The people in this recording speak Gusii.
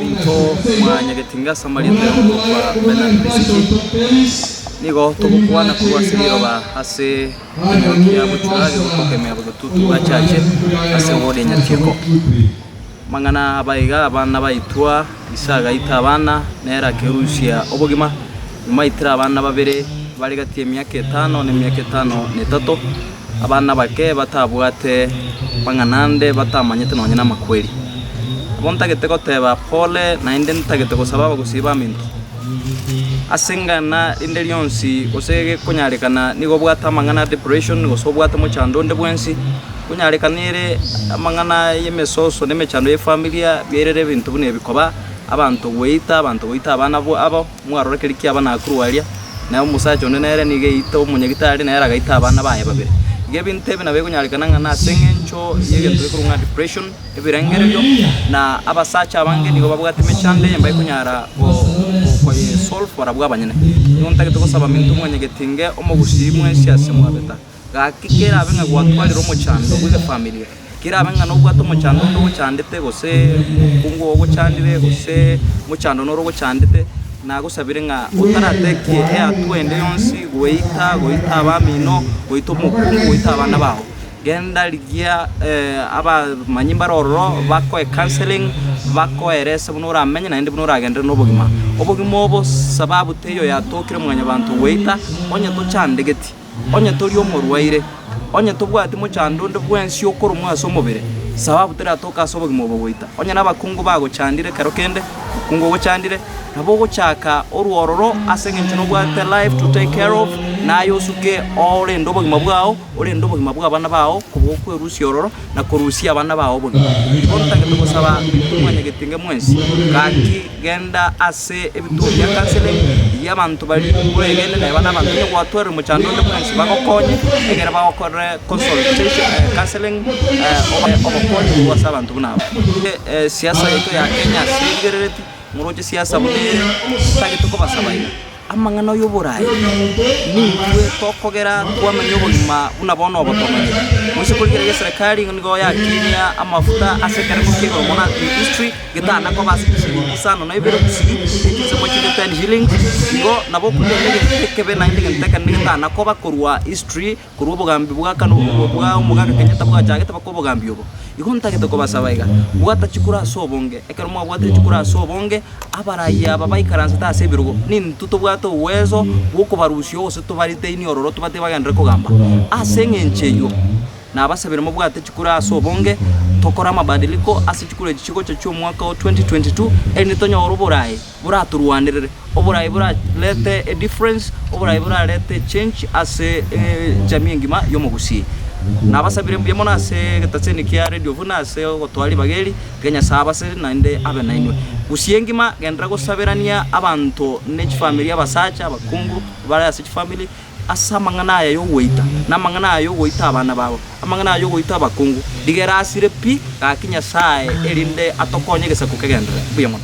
Intwe mwaanyagetire inga ase amarieta ya omonto okwa Bernard Besigye, nigo togokwana korwa ase riroba ase ekenyoro kia gochura age gotokemea botutuki bwa chache ase Ward ya Nyakeko. Amang'ana abaga abana baitwa. Ise agaita abana, nere akerusia obogima. Nyuma aitire abana babere bare gati y'emiaka etano na emiaka etano na etato, abana abake batabwate bang'anande, batamanyete nonya namakweri. Nabo ntagete goteba, Pole, naende ntagete gosaba abagosii baminto. Ase eng'ana rinde rionsi, gose gekonyarekana, nigo obwate amang'ana a depression, gose obwate mochando onde bwensi, Konyarekanere amang'ana y'emesoso na emechando y'efamilia biairere ebinto buna ebi, koba abanto goita abanto goita abana abo mwarora keri kiaba nakorwa aria, na omosacha onde nere nigo eite omonyagitari nere agaita abana baye babere. Iga ebinto ebi nabo ekonyarekana ng'a nase eng'encho y'egento gekorwa ng'a depression, ebirengererio, na abasacha abange nigo babwate emechando eye mbakonyara go- go- koyesolve barabwo abanyene. Nigo ntagete gosaba mintwe mwanyegetinge omogusii mwensi ase mwabeta. Gaki kerabe ng'a gwatwarire omochando bwe efamilia, kerabe ng'a nobwate omochando onde ogochandete, gose omokungu oo ogochandire, gose omochando noro ogochandete, nagosabire ng'a otaratetie eatwa ende yonsi goita, goita abamino, goita omokungu, goita abana bao. Genda rigia abamanyi mbare ororo bakoe counselling, bakoerese buna oramenye naende buna oragenderere na obogima. Obogima obo sababu teiyo yatokire mwanyabanto goita, onye tochandegeti. Onye tori omorwaire, onye tobwati mochando onde bwensi okoromwa ase omobere, sababu teratoka ase obogima obo goita. Onye nabakungu bagochandire ekero kende, mokungu ogochandire, nabo ogochaka orwororo ase engencho nobwate life to take care of, na aye osuke orende obogima bwao, orende obogima bw'abana bao kobokwerusia ororo, na korusia abana bao obogima. Nigo ntagete gosaba Omwanyagetenge mwensi, gaki Genda ase ebituo bia kanseling ebi'abanto bari bwegenete naye bane abanto onye gwatwerire omochando onde bwensi bagokonye ekero bagokorere consultation counselling obae obokonyi korwa ase abanto buna aba. Siasa yaito ya Kenya ase erigerereti, ngoroche siasa buna ere, titagete kobasaba iga. Amang'ana y'oboraai nintwe tokogera twamanya obogima buna bono obotomani, gose korikera y'eserekari nigo yatinia amafuta ase ekerengo kia igoro mono Arctic History getana koba ase chishilingi isano na ibere gusii gochia ase 110 shillings, igo nabo okoiroria egento ekebe naende egento ekende getana koba korwa History Korwa obogambi bwa kane obo bwa omogaka kenyene tabwachagete bake obogambi obo. Igo ntagete kobasaba iga, Bwata chikura ase obonge. Ekero mwabwatire chikura ase obonge, abarayia aba baikaransete ase ebirogo, nintwe tobwate obweso bw'okobarusia gose tobaritainie ororo tobatebie bagenderere kogamba. Ase eng'encho eyio, nabasabire mobwate chikura ase obonge, tokore amabadiliko ase chikura echi chigocha chi'omwaka o 2022, erinde tonyore oboraai. boratorwanerere, oborayi borarete a difference, oborayi borarete a change ase ejamii engima y'omogusii. Nabasabire mbuya mono ase egetacho eke kia Radio buna ase ogotoa ribaga eri, iga Nyasae abasere naende abe nainwe. Gusii engima genderera gosaberania abanto ne chifamiri, abasacha, abakungu bare ase chifamiri ase amang'ana aya y'ogoita, na amang'ana aya y'ogoita abana babo, amang'ana aya y'ogoita abakungu, rigera asire pi, gaki Nyasae erinde atokonye egesaku kegenderere. Mbuya mono.